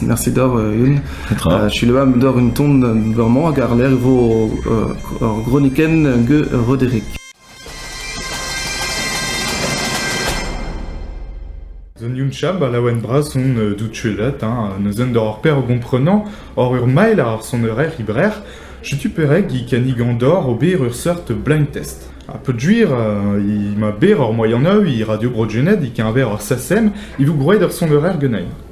Merset oc'h a-hun. Petra? Selaou amp doc'h un ton bremañ hag àr-lerc'h e vo ur gronikenn get Roderick. Zon Youn Chab a laouen bras on euh, dout chuelet, hein, neuzen doc'h ar per o gomprenañ, oc'h ur mael ar sonerezh librer, setu perag i kannigan doc'h ober ur seurt blind test. Ha peogwir euh, i ma ber ur moyen eu i Radio Bro Gened i keñver ur sasem, i vo gwraet ur sonerezh genein.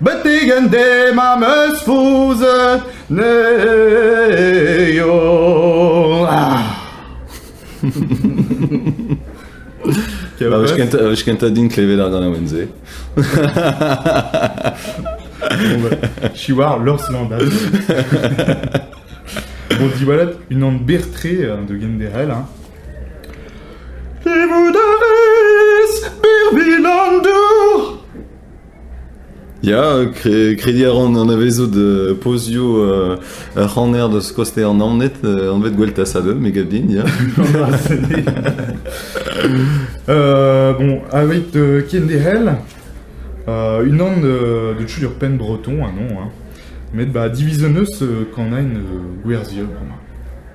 Betek an den am eus fouzet ne eo. Wech kentañ din klevet ar ganaouenn-se. She war Lors Landal. bon, diwallat, unan bertre euh, de genderel. Hein. Livoudariz, birvilandur! Ya, krediñ a ran anavezout pozioù ur c'haner deus koster Naoned, anvet Gweltasa2, me gav din, ya. bon, aveit kenderc'hel, unan de tud ur penn breton, ha non, hein, met ba diviz 'n eus kanañ gwerzhier bremañ.